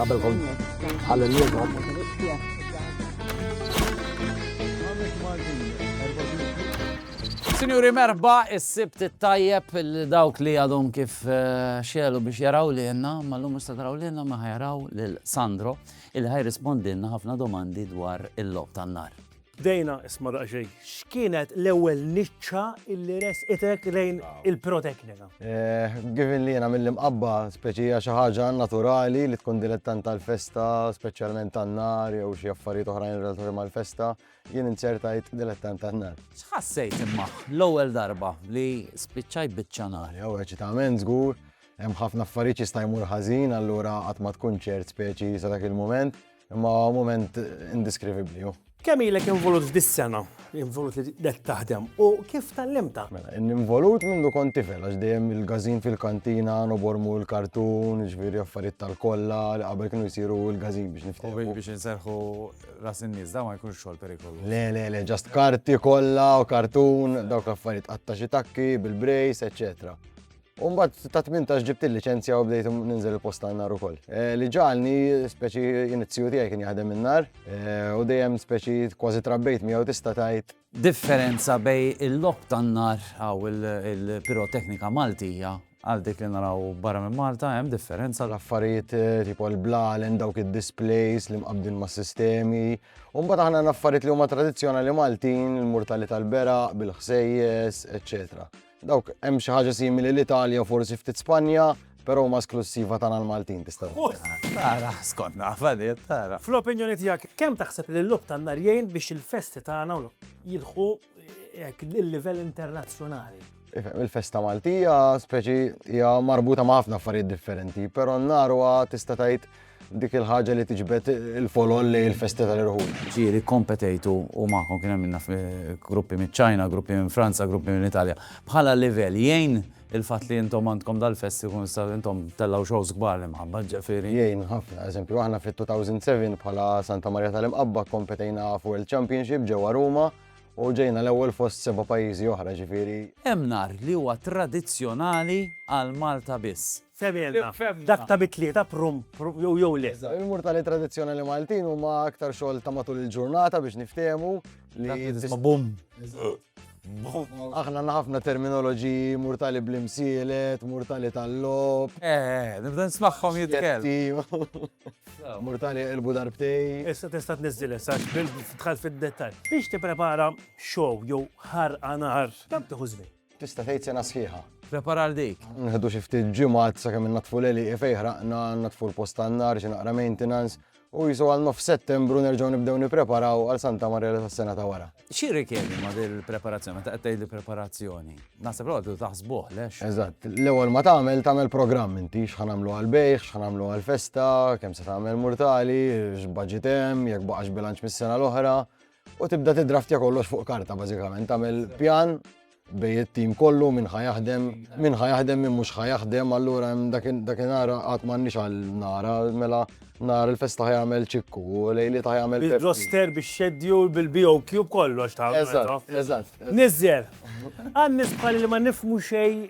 Qabel kont għal-liġa. Sinjuri merba, is-sibt tajjeb dawk li għadhom kif eh, xelu biex jaraw li jenna, ma l-lum musta taraw li jenna ma jaraw l-Sandro, il-ħaj rispondinna ħafna domandi dwar il-lob tan-nar. Dejna, isma' daqsxejn, x'kienet l-ewwel niċċa illi resqitek lejn il-piroteknika? Given li jiena mill-Imqabba, speċi hija xi ħaġa naturali li tkun dilettant tal-festa, speċjalment tan-nar jew xi affarijiet oħrajn relatati mal-festa, jien inzertajt dilettant tan-nar. X'ħassejt imma l-ewwel darba li spiċċajt biċċa nar? Jew eċitament żgur, hemm ħafna affarijiet jista' jmur ħażin allura qatt ma tkun ċert speċi sa dak il-mument. Imma moment indeskrivibli hu. Kemm ilek involut f'dis-sena? Involut li qed taħdem u kif tallimta? Mela, involut mindu kont tifel għax dejjem il-gażin fil-kantina nobormu l-kartun, ġifieri affarijiet tal-kollha li qabel kienu jsiru l-gażin biex niftehmu. U biex inserħu ras in-nies da ma jkunx xogħol perikolu. Le, le, le, ġast karti kollha u kartun, dawk l-affarijiet qatta xi takki bil-brejs, eċċetera. U mbagħad ta' 18 ġibt il-liċenzja u bdejt ninżel il-post tan-nar ukoll. Eh, li ġalni speċi inizzju tiegħi kien jaħdem in-nar eh, u dejjem speċi kważi trabbejt miegħu tista' tgħid. Differenza bej il-lok tan-nar għaw il-piroteknika Maltija għal dik li naraw barra minn Malta hemm differenza. L-affarijiet eh, tipo l-blalen, dawk id-displays li mqabdin ma' sistemi. U mbagħad aħna l-affarijiet li huma tradizzjonali Maltin, il-murtali tal-bera, bil-ħsejjes, eċċetera. Dawk hemm xi ħaġa simili l-Italja u forsi ftit Spanja, però huma esklussiva tagħna l-Maltin tista' Tara, skont naf għadid, tara. Fl-opinjoni tiegħek, kemm taħseb li l-logħob tan-nar jgħin biex il-festi tagħna jilħqu hekk il-livell internazzjonali? Il-festa Maltija speċi hija marbuta ma' ħafna affarijiet differenti, però n-nar huwa tista' tgħid Dik il-ħaġa li tiġbed il-folol lejn il-festi tal-irħul. Ġieli kkompetejtu u magħkom kien hemm naf gruppi miċ-Ċina, gruppi minn Franza, gruppi minn Italja. Bħala livell jgħin il-fatt li intom għandkom dal-festi kun sa intom tellgħu shows kbar l-imħabba ġifieri. Jgħin ħafna, eżempju aħna fit-2007 bħala Santa Marja tal-Imqabba kkompetejna f'World Championship ġewwa Ruma u ġejna l-ewwel fost seba' pajjiżi oħra ġifieri. Hemm nhar li huwa tradizzjonali għal Malta biss. Fehmilna, dak ta' mit-Tlieta prum jew le? Il-murtali tradizzjonali Maltin huma aktar xogħol ta' matul il-ġurnata biex niftehmu li. Tisma' bum. Aħna għandna ħafna terminoloġiji, murtali bl-imsielet, murtali tal-logħob. Eh, eh, nibda nismagħhom jitkellmu. Murtali jqilbu darbtejn. Issa tista' tniżżilha issa għax dħalt fid-dettall. Biex tipprepara show jew ħarqa nar, kemm tieħu żmien? Tista' tgħid sena sħiħa. Prepara għal dik. Nħedu xi ftit ġimgħat sakemm innatfu l-għeliq fej ħraqna, natfu l-post tan-nar, xi naqra maintenance, u jisu għal nof settembru nerġgħu nibdew nippreparaw għal Santa Marjela tas-sena ta' wara. Xi rikjedi ma' din il-preparazzjoni, meta qed tgħid preparazzjoni? Naħseb l għadu taħsbuh, lex? Eżatt, l-ewwel ma tagħmel tagħmel programm inti x'ħa nagħmlu għal bejħ, x'ħa nagħmlu għal festa, kemm se tagħmel murtali, x'budget hemm, jekk baqax bilanċ mis-sena l-oħra. U tibda tidraftja kollox fuq karta bażikament, tagħmel pjan bej it-tim kollu minn ħajaħdem, minn ħajaħdem minn mhux ħajaħdem, allura hemm dakinhar qatt m'għandniex għal nara, mela nar il-festa ħajamel ċikku, u lejli ta' jagħmel. Bil-roster, bil-schedule, bil-BOQ, kollox ta' Eżatt, eżatt. Nizzer, għan nisbħal li ma nifmu xej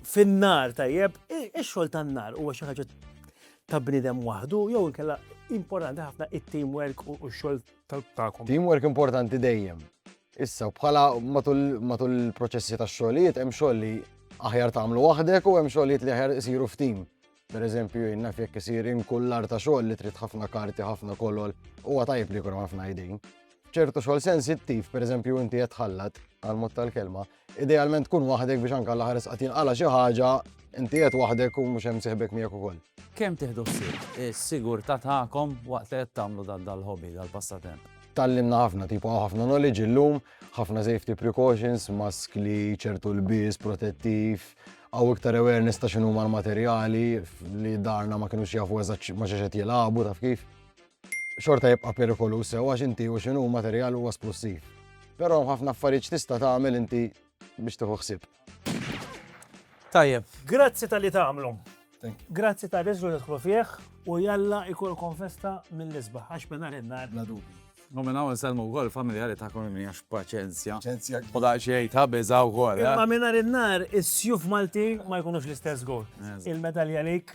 fin-nar tajjeb, ix-xogħol tan-nar huwa xi ħaġa ta' bniedem waħdu, jew inkella importanti ħafna it-teamwork u x-xogħol tagħkom. Teamwork importanti dejjem. Issa, bħala matul il-proċessi ta' xogħlijiet, hemm xogħol li aħjar tagħmlu waħdek u hemm xogħlijiet li aħjar isiru f'tim. Per eżempju, naf jekk isir inkullar ta' xogħol li trid ħafna karti, ħafna kolol, huwa tajb li jkun ħafna idejn. ċertu xogħol sensittiv, per eżempju, inti qed ħallat għal mod tal-kelma, Idealment tkun waħdek biex anke l-aħħar isqat jinqala' xi ħaġa, inti qed waħdek u mhux hemm sieħbek miegħek ukoll. Kemm tieħdu ħsieb is-sigurtà tagħkom waqt li qed tagħmlu dan dal-hobby, dal-passatemp? Tgħallimna ħafna, tipo hawn ħafna knowledge illum, ħafna safety precautions, maskli, ċertu lbies, protettiv, għaw iktar awareness ta' x'inhuma l-materjali li darna ma kinux jafu eżatt ma xi qed jilagħbu taf kif. xorta jibqa' perikoluż sew għax inti u x'inhu materjal huwa splussiv. Però hemm ħafna affarijiet x'tista' tagħmel inti biex tieħu ħsieb. Tajjeb. Grazzi talli tagħmlu. Grazzi tar-riżlu li tidħlu fih u jalla jkollkom festa mill-isbaħ għax minn nhar il-nhar. Bla dubju. U minn hawn insellmu wkoll familjari tagħkom imli għax b'paċenzja. Paċenzja. U daqsxejn ta' biża' wkoll. Imma minn nhar il-nhar is-sjuf Maltin ma jkunux l-istess żgur. Il-medalja għalik.